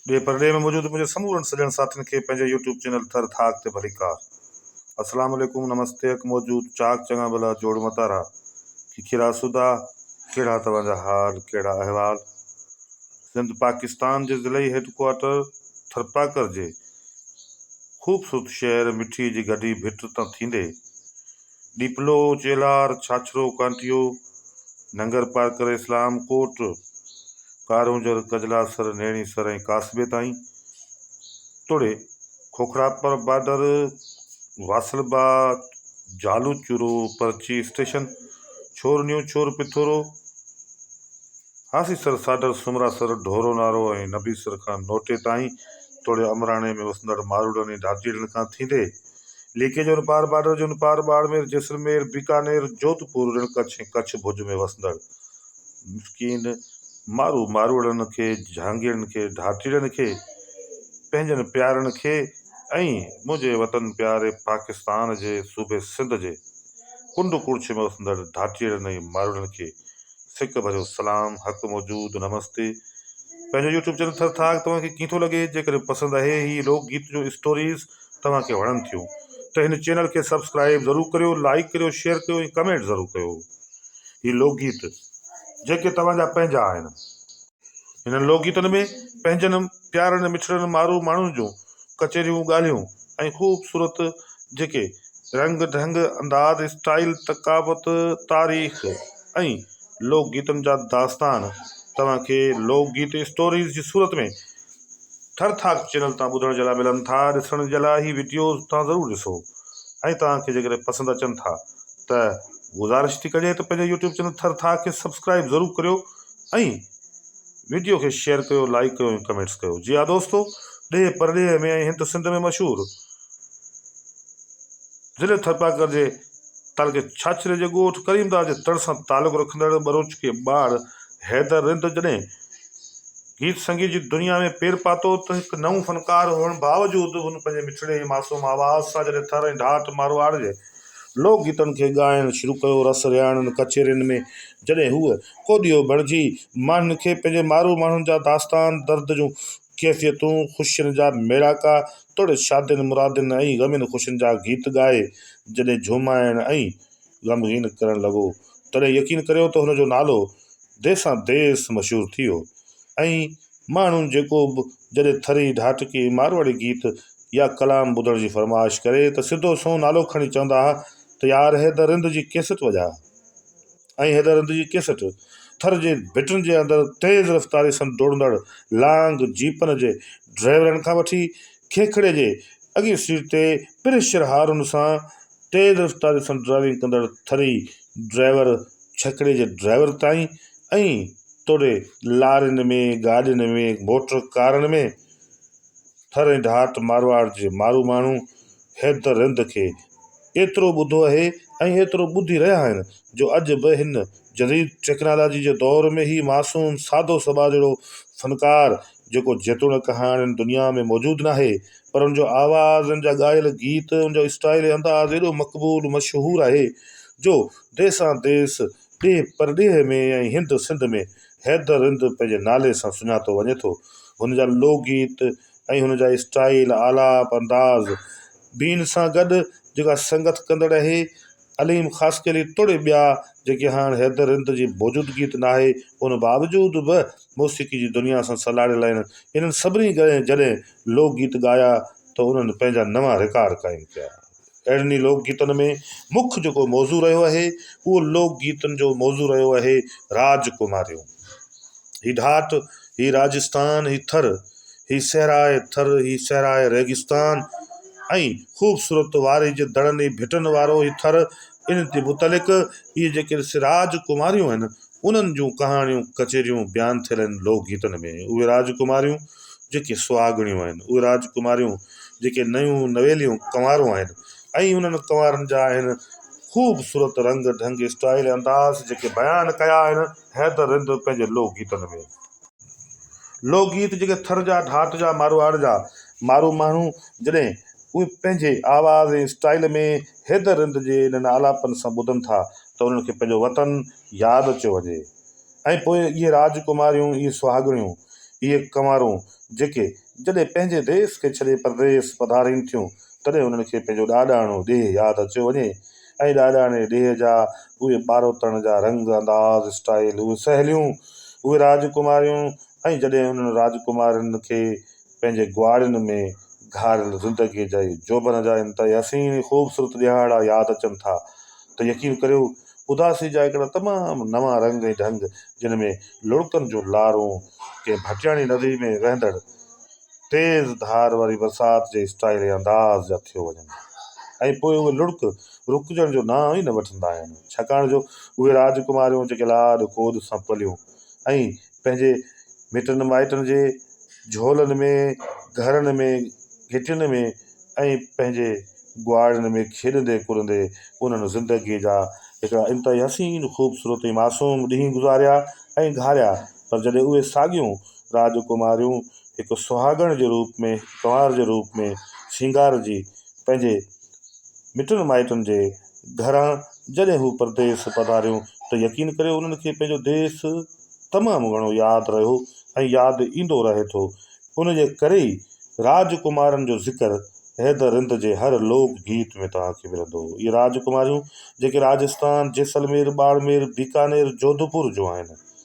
ڏي پرڏيهه ۾ موجود منهنجي سمورن سڄڻ ساٿين کي پنهنجي يوٽيوب چينل ٿر ٿاڪ تي ڀليڪار اسلام عليڪم نمستي اک موجود چاڪ چڱا ڀلا جوڙ متارا کيکير آسودا ڪهڙا توهان جا حال ڪهڙا احوال سنڌ پاڪستان جي ضلعي هيڊڪوارٽر ٿرپاڪر جي خوبصورت شهر مٺي جي گڏي ڀٽ تان ٿيندي ڏيپلو، چيلهار، ڇاڇرو، ڪانٺيو، ننگر پارڪر، اسلام ڪوٽ، ڪارونجهر، ڪجلاسر، نيڻيسر ۽ ڪاسبي تائين توڙي کوکراپر بارڊر، واصل باغ، جهالو چورو، پرچي اسٽيشن، ڇور نيو ڇور پٿورو، هاسيسر، ساڍر، سومراسر، ڍورو نارو ۽ نبيسر کان نوٽي تائين توڙي امراڻي ۾ وسندڙ ماروئڙن ۽ ڍاٽيڙن کان ٿيندي ليڪي جو ان پار بارڊر جو ان پار ٻاڙمير، جيسلمير، بيڪانير، جوڌپور، رڻ ڪڇ ۽ ڪڇ ڀڄ ۾ وسندڙ مسڪين مارو ماروئڙن کي، جھانگيرن کي، ڍاٽيڙن کي، پنھنجن پيارن کي ۽ منھنجي وطن پياري پاڪستان جي صوبي سنڌ جي ڪنڊ ڪڙڇ ۾ وسندڙ ڍاٽيڙن ۽ ماروئڙن کي سڪ ڀريو سلام حق موجود نمستي پنھنجو يوٽيوب چينل ٿر ٿاڪ توھان کي ڪيئن ٿو لڳي جيڪڏھن پسند اھي ھي لوڪ گيت جو اسٽوريز توهان کي وڻن ٿيون ته هن چينل کي سبسڪرائيب ضرور ڪريو لائيڪ ڪريو شيئر ڪريو ۽ ڪمينٽ ضرور ڪيو هي لوڪ گيت جيڪي توهان جا پنهنجا آهن هنن لوڪ گيتن ۾ پنهنجن پيارن مٺڙن مارو ماڻهن جون ڪچهريون ڳالهيون ۽ خوبصورت جيڪي رنگ ڍنگ انداز اسٽائيل ثقافت تاريخ ۽ لوڪ گيتن جا داستان توهان کي لوڪ گيت اسٽوريز جي صورت ۾ ٺر ٺاڪ چينل تان ٻڌڻ جي لاء ملن ٿا ڏسڻ جي لاء هي وڊيوز تان ضرور ڏسو ۽ توهان کي جيڪڏهن پسند اچن ٿا ته گذارش ٿي ڪجي ته پنهنجو يوٽيوب چينل ٿر ٿاڪ کي سبسڪرائب ضرور ڪريو ۽ وڊيو کي شيئر ڪيو لائڪ ڪيو ۽ ڪمينٽس ڪيو جي ها دوستو ڏيهه پرڏيهه ۾ ۽ هند سنڌ ۾ مشهور ضلعي ٿرپارڪر جي تعلقي ڇاڇري جي ڳوٺ ڪريمداس جي تڙ سان تعلق رکندڙ ٻروچ کي ٻار حيدر رند جڏهن گيت سنگيت جي دنيا ۾ پير پاتو ته هڪ نئون فنڪار هئڻ باوجود هن پنهنجي مٺڙي ۽ معصوم آواز سان جڏهن ٿر ۽ ڍاٽ مارواڙ جي لوڪ گيتن کي ڳائڻ شروع ڪيو رس رهاڻين ڪچهرين ۾ جڏهن هوء ڪوڏيو بڻجي ماڻهن کي پنهنجي مارو ماڻهن جا داستان درد جون ڪيفيتون خوشين جا ميڙاڪا توڙي شادين مرادين ۽ غمين خوشين جا گيت ڳائي جڏهن جهومائڻ ۽ غمگين ڪرڻ لڳو تڏهن يقين ڪريو ته هن جو نالو ديسان ديس مشهور ٿي ويو ۽ ماڻهو جيڪو به جڏهن ٿري، ڍاٽڪي، مارواڙي گيت يا ڪلام ٻڌڻ جي فرمائش ڪري ته سڌو سنئون نالو کڻي چوندا ها ته يار حيدر رند جي ڪيسٽ وڄاء ۽ حيدر رند جي ڪيسٽ ٿر جي ڀٽن جي اندر تيز رفتاري سان ڊوڙندڙ لانگ جيپن جي ڊرائيورن کان وٺي کيکڙي جي اڳين سيٽ تي پريشر هارن سان تيز رفتاري سان ڊرائيونگ ڪندڙ ٿري ڊرائيور ڇڪڙي جي ڊرائيور تائين ۽ توڙي لارين ۾ گاڏين ۾ موٽر ڪارن ۾ ٿر ۽ ڍات مارواڙ جي مارو ماڻهو هيد رند کي ايترو ٻڌو اهي ۽ ايترو ٻڌي رهيا آهن جو اڄ به هن جديد ٽيڪنالاجي جي دور ۾ هي معصوم سادو سٻاريڙو فنڪار جيڪو جيتوڻڪ هاڻ هن دنيا ۾ موجود ناهي پر ان جو آواز ان جا ڳايل گيت ان جو اسٽائل ۽ انداز ايڏو مقبول مشهور آهي جو ديسان ديس ڏيهه پرڏيهه ۾ ۽ هند سنڌ ۾ حيدر رند پنهنجي نالي سان سڃاتو وڃي ٿو هن جا لوڪ گيت ۽ هن جا اسٽائل آلاپ انداز بين سان گڏ جيڪا سنگت ڪندڙ اهي عليم خاصخيلي توڙي ٻيا جيڪي هاڻ حيدر رند جي موجودگي ته ناهي ان باوجود به موسيقي جي دنيا سان سلهاڙيل آهن انهن سڀني جڏهن لوڪ گيت ڳايا ته انهن پنهنجا نوان رڪارڊ قائم ڪيا اهڙن ئي لوڪ گيتن ۾ مک جيڪو موضوع رهيو آهي اهو لوڪ گيتن جو موضوع رهيو آهي راج ڪماريون هي ڍاٽ هي راجستان هي ٿر هي صحرائي ٿر، هي صحرائي ريگستان ۽ خوبصورت واري جي دڙن ۽ ڀٽن وارو هي ٿر، ان تي متعلق اهي جيڪي راج ڪماريون آهن، انهن جون ڪهاڻيون ڪچهريون بيان ٿيل آهن لوڪ گيتن ۾. اهي راج ڪماريون جيڪي سهاڳڻيون آهن، اهي راج ڪماريون جيڪي نيون نويليون ڪنوارون آهن ۽ انهن ڪنوارن جا آهن خوبصورت رنگ ڍنگ، اسٽائيل ۽ انداز جيڪي بيان ڪيا آهن، حيدر رند پنهنجي لوڪ گيتن ۾. لوڪ گيت جيڪي ٿر جا، ڍاٽ جا، ماروئاڙ جا مارو ماڻهو جڏهن اهي پنهنجي آواز ۽ اسٽائيل ۾ حيدر رند جي انهن آلاپن سان ٻڌن ٿا ته انهن کي پنهنجو وطن ياد اچيو وڃي ۽ پوء اهي راج ڪماريون، اهي سهاڳڻيون، اهي ڪنوارون جيڪي جڏهن پنهنجي ديس کي ڇڏي پرديس پڌارين ٿيون تڏهن انهن کي پنهنجو ڏاڏاڻو ڏيهه ياد اچيو وڃي ۽ ڏاڏاڻي ڏيهه جا اهي ٻاروتڻ جا رنگ، انداز، اسٽائيل، اهي سهيليون، اهي راجڪماريون ۽ جڏهن انهن راجڪمارين کي پنهنجي ڳواڙين ۾ گهاريل زندگيء جي جوڀن جا انتهائي حسين ۽ خوبصورت ڏيهاڙا ياد اچن ٿا ته يقين ڪريو اداسي جا هڪڙا تمام نوان رنگ ۽ ڍنگ جن ۾ لڙڪن جون لارون ڪنهن ڀٽياڻي ندي ۾ وهندڙ تيز ڌار واري برسات جي اسٽائيل ۽ انداز جا ٿيو وڃن ۽ پوء اهي لڙڪ رڪجڻ جو نانء ئي نه وٺندا آهن، ڇاڪاڻ جو اهي راجڪماريون جيڪي لاڏ ڪوڏ سان پليون ۽ پنهنجي مٽن مائٽن جي جهولن ۾، گهرن ۾، گهٽين ۾ ۽ پنهنجي ڳوئاڙين ۾ کيڏندي ڪڏندي انهن زندگيء جا هڪڙا انتهائي حسين، خوبصورت ۽ معصوم ڏينهن گذاريا ۽ گهاريا پر جڏهن اهي ساڳيون راج ڪماريون هڪ سهاڳڻ جي روپ ۾ ڪنوار جي روپ ۾ سينگارجي پنهنجي مٽن مائٽن جي گهران جڏهن هو پرديس پڌاريون ته يقين ڪريو انهن کي پنهنجو ديس تمام گهڻو ياد رهيو ۽ ياد ايندو رهي ٿو. ان جي ڪري ئي راج ڪمارن جو ذڪر حيدر رند جي هر لوڪ گيت ۾ توهان کي ملندو. اهي راج ڪماريون جيڪي راجستان، جيسلمير، ٻاڙمير، بيڪانير، جوڌپور جون آهن.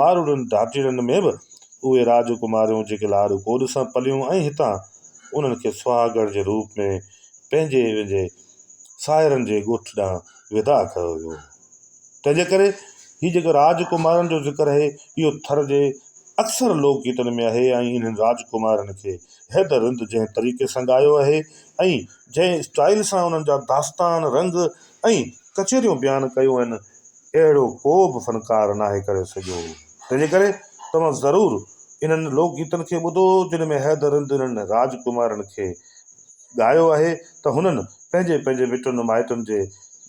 ماروئڙن ڌاٽيڙن ۾ به اهي راج ڪماريون جيڪي لاڏ ڪوڏ سان پليون ۽ هتان انهن کي سهاڳڻ جي روپ ۾ پنهنجي ويندي ساهرن جي ڳوٺ ڏانهن ودا ڪيو ويو هو. تنهن جي ڪري هي جيڪو راج ڪمارن جو ذڪر آهي اهو ٿر جي اڪثر لوڪ گيتن ۾ آهي ۽ انهن راج ڪمارن کي حيدر رند جنهن طريقي سان ڳايو آهي ۽ جنهن اسٽائيل سان انهن جا داستان رنگ ۽ ڪچهريون بيان ڪيون آهن اهڙو ڪو به فنڪار ناهي ڪري سگهيو هو. تنهن جي ڪري توهان ضرور انهن لوڪ گيتن کي ٻڌو جن ۾ حيدرن دلن راج ڪمارن کي ڳايو آهي ته هنن پنهنجي پنهنجي مٽن مائٽن جي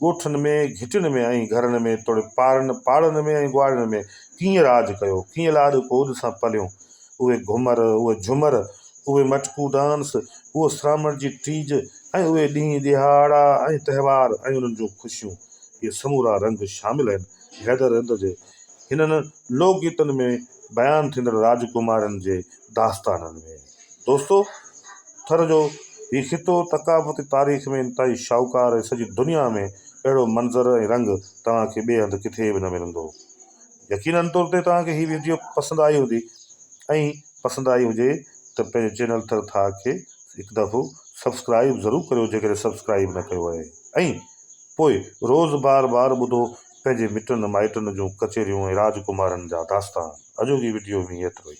ڳوٺن ۾ گهٽين ۾ ۽ گهرن ۾ توڙي پارن پاڙن ۾ ۽ ڳوهاڙين ۾ ڪيئن راج ڪيو ڪيئن لاڏ ڪوڏ سان پليون اهي گهمر اهي جهمر اهي مٽڪو ڊانس اهو سرامڻ جي ٽيج ۽ اهي ڏينهن ڏهاڙا ۽ تهوار ۽ انهن جون خوشيون اهي سمورا رنگ شامل آهن. حيدر هند جي هنن لوڪ گيتن ۾ بيان ٿيندڙ راجڪمارين جي داستانن ۾، دوستو! ٿر جو هي خطو ثقافتي تاريخ ۾ انتهائي شاهوڪار ۽ سڄي دنيا ۾ اهڙو منظر ۽ رنگ توهان کي ٻئي هنڌ ڪٿي به نه ملندو. يقينن طور تي توهان کي هي ويڊيو پسند آئي هوندي ۽ پسند آئي هجي ته پنهنجي چينل ٿر ٿاهه کي هڪ دفعو سبسڪرائيب ضرور ڪريو جيڪڏهن سبسڪرائيب نه ڪيو آهي ۽ پوء روز بار بار ٻڌو پنهنجي مٽن مائٽن جون ڪچهريون ۽ راجڪمارن جا داستان اڄوڪي وڊيو ۾ ايترو ئي.